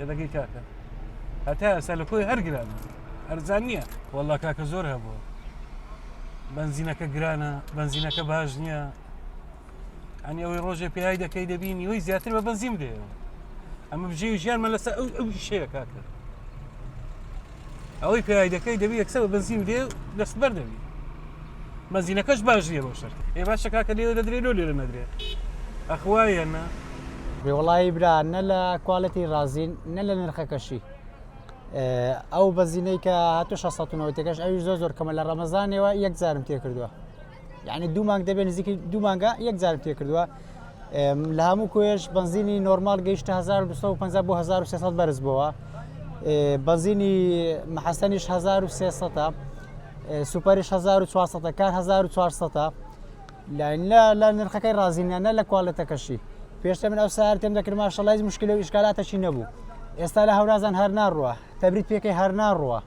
یەدەگەی کاکە هەتا ئێستا لە کۆی هەر گران هەرزان نییە وەڵا کاکە زۆر هەبووە بنزینەکە گرانە بنزینەکە باش نییە ئەنی ئەوەی ڕۆژێ پێی دەکەی دەبینی وی زیاتر بە بەنزیم دێەوە ئەمە بژێ ژیانمە لەسەر ئەو ئەو شەیە کاکە ئەوەی پێوای دەکەی دەبی یەکسەر بە بنزین بدێ دەست بەر دەبی مەزینەکەش باش نیە بۆ شەر ئێ باشە کاکە لێوە دەدرێت لۆ لێرە نەدرێ ئەخوایە نە وڵی برا نە لە کوالەتی رازین نە لە نرخەکەشی ئەو بەزینەی کە هاتو 1600ەوەتەکەش ئەوی زۆر زۆر کەمە لە ڕەمەزانەوە یەکجارم تێکردووە یعنی دوو مانگ دەبێت نزیکی دوو مانگە یەک جارم تێ کردووە لە هەموو کۆێش بنزینی نۆرمال گەیشتە 1950 بۆ 1600 بەرز بووە بەزینی محەسەنیش 1300 سوپەرش 1400 کار 1400 لە نرخەکەی رازینانە لە کوالەتەکەشی پێشتە من ئەو سارتێم دەکرد ماشەڵای مشکل و ئیشکالاتەشی نەبوو ئێستا لە هەورازان هەر ناڕوە تەبریت پێکەی هەر ناڕوە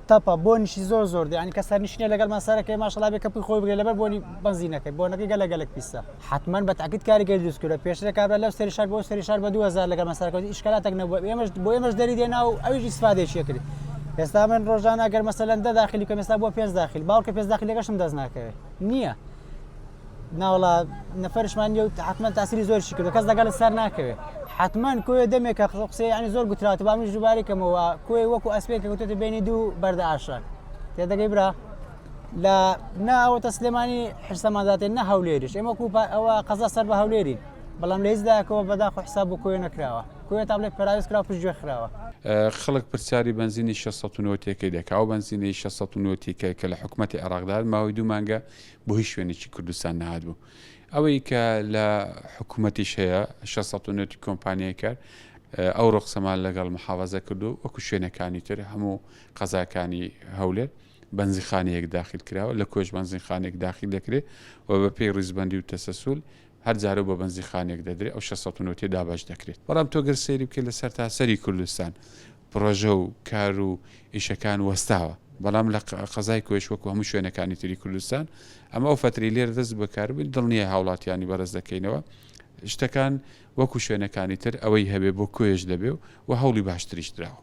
تەپە بۆنیشی زۆر زۆر دێ ینی کە سەرنشینە لەگەڵمان سەرەکەی ماشەڵا بێ کەپی خۆی بگرێ لەبەر بۆنی بەنزینەکەی بۆنەکەی گەلە گەلک پیسە حتمما بە تاکیت کاریگەری دروست کردە پێشترە کابرا لەو سەری شار بۆ سەری شار بە 2000 لەگەڵمان سەرکەوت ئیشکالاتێک نەبوو ئێمەش بۆ ئێمەش دەری دێنا و ئەویش ئیسفادێکی کرد ئێستا من ڕۆژانە گەر مەسەلەن دە داخلی کە مێستا بۆ پێنج داخل باوکە پێنج داخلەکەشم دەست ناکەوێت نییە ناوەڵا نەفرشمان نیە و حتمما تاسیری زۆرشی کردو کەس لەگەڵ سەر ناکەوێت حتمما کوێ دەمێکە قسەی ینی زۆر گوترات با منیش دووبارەی کەمەوە کوێ وەکو ئەسپێک کەوتێتە بینی دوو بەردە ئاشراک تێدەگەی برا لە ناوەتە سلێمانی حرسەمانزاتێن نە هەولێریش ئێمە کو ئەوە قەزا سەر بە هەولێری بەڵام لە هیچداکەوە بەدا خۆ حساب بۆ کوێ نەکراوە کوێ تا بڵێ پراوێز کرا پشت گوێ خراوە خەڵک پرسیاری بنزینی 1690 تێکەی دەکا ئەو بنزینی 1690 تێکە کە لە حکوومەتی عێراقدار ماوەی دوو مانگە بۆ هیچ شوێنێکی کوردستان نەهاتبوو ئەوەی کە لە حکوومەتیش هەیە 690 کۆمپانیای کار ئەو ڕۆخسەمان لەگەڵ محافظە کردو وەکو شوێنەکانی تر هەموو قەزاکانی هەولێر بەنزیخانەیەک داخل کراوە لە کۆش بەنزیخانێک داخل دەکرێت و بە پێی ڕیزبندی و تەسەسول هەر جارە و بە بەنزیخانێک دەدرێت، ئەو شەش سەد و نۆ تێدا بەش دەکرێت. بەڵام تۆ گەر سەیری بکەیت لە سەرتاسەری کوردستان پڕۆژە و کار و ئیشەکان وەستاوە، بەڵام لە قەزای کۆیەش وەکو هەموو شوێنەکانی تری کوردستان، ئەمە ئەو فەترەی لێرە دەست بە کار بووین، دڵنیای هاوڵاتیانی بەڕێز دەکەینەوە، شتەکان وەکو شوێنەکانی تر ئەوەی هەبێت بۆ کۆیەش دەبێت و هەوڵی باشتریش دراوە.